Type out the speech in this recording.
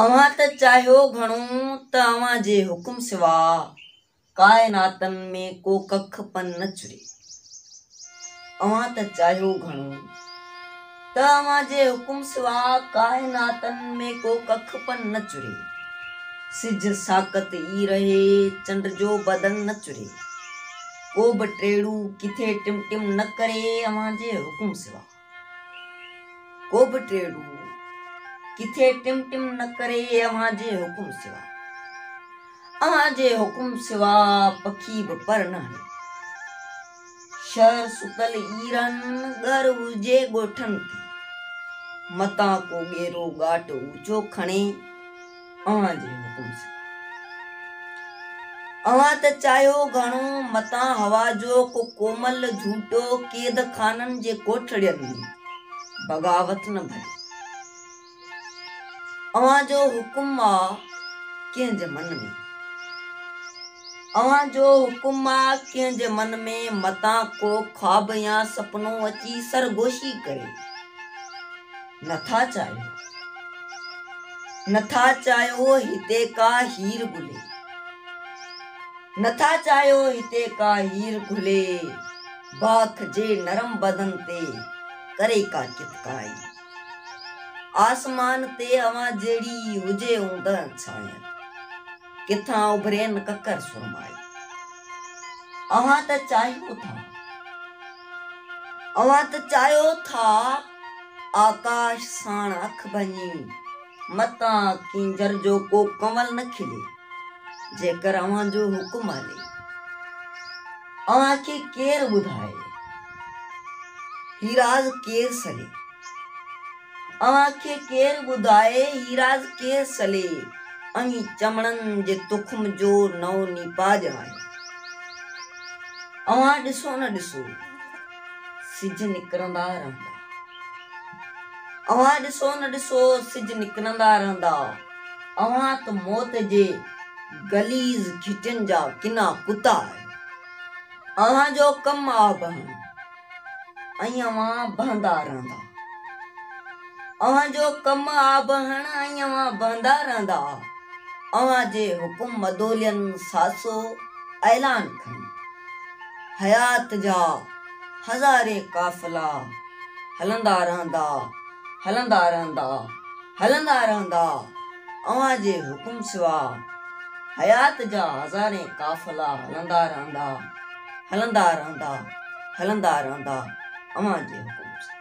اوهان ته چاهيو گهڻو ته اوهان جي حڪم سوا ڪائناتن ۾ ڪو ڪک پن نه چري. اوهان ته چاهيو گهڻو ته اوهان جي حڪم سوا ڪائناتن ۾ ڪو ڪک پن نه چري. سج ساڪت ئي رهي چنڊ جو بدن نه چري. ڪو به ٽيڙو ڪٿي ٽم ٽم نه ڪري اوهان جي حڪم سوا. ڪو به ٽي روح ڪٿي ٽم ٽم نه ڪري اوهان جي حڪم سوا اوهان جي حڪم سوا پکي به پر نه هلي شهر ستل ايرن ڳر هجي ڳوٺن تي متان ڪو ڳيرو ڳاٽ اوچو کڻي اوهان جي حڪم سان اوهان ته چاهيو گهڻو، متان هوا جو ڪو ڪومل جهوٽو قيد خانن جي ڪوٺڙين ۾ بغاوت نه ڀري. اوهان جو حڪم آ ڪنهن جي من ۾؟ اوهان جو حڪم آ ڪنهن جي من ۾؟ متان ڪو خواب يا سپنو اچي سرگوشي ڪري. نه ٿا چاهيو نه ٿا چاهيو هتي ڪا هير گهلي نه ٿا چاهيو هتي ڪا هير گهلي باک جي نرم بدن تي ڪري ڪا ڪتڪائي آسمان تي اوهان جهڙي هجي اوندهن ڇانيت ڪٿان اڀرين ڪڪر سرمائي اوهان ته چاهيو ٿا اوهان ته چاهيو ٿا آڪاش ساڻ اک ڀڃي متان ڪينجهر جو ڪو ڪنول نه کلي جيڪر اوهان جو حڪم هلي اوهان کي ڪير ٻڌائي هي راز ڪير سلي اوهان کي ڪير ٻڌائي هي راز ڪير سلي اوهين چمڙن جي تخم جو نئون نيپاج آهي اوهان ڏسو نه ڏسو سج نڪرندا رهندا. اوهان ڏسو نه ڏسو سج نڪرندا رهندا. اوهان ته موت جي غليظ گهٽين جا ڪنا ڪتا آهيو. اوهان جو ڪم آهي بهڻ ۽ اوهان بهندا رهندا. اوهان جو ڪم آهي بهڻ ۽ اوهان بهندا رهندا. اوهان جي حڪم مدولين ساسو اعلان کڻي. حيات جا هزارين قافلا هلندا رهندا هلندا رهندا هلندا رهندا اوهان جي حڪم سوا حيات جا هزارين قافلا هلندا رهندا هلندا رهندا هلندا رهندا اوهان جي حڪم سوا.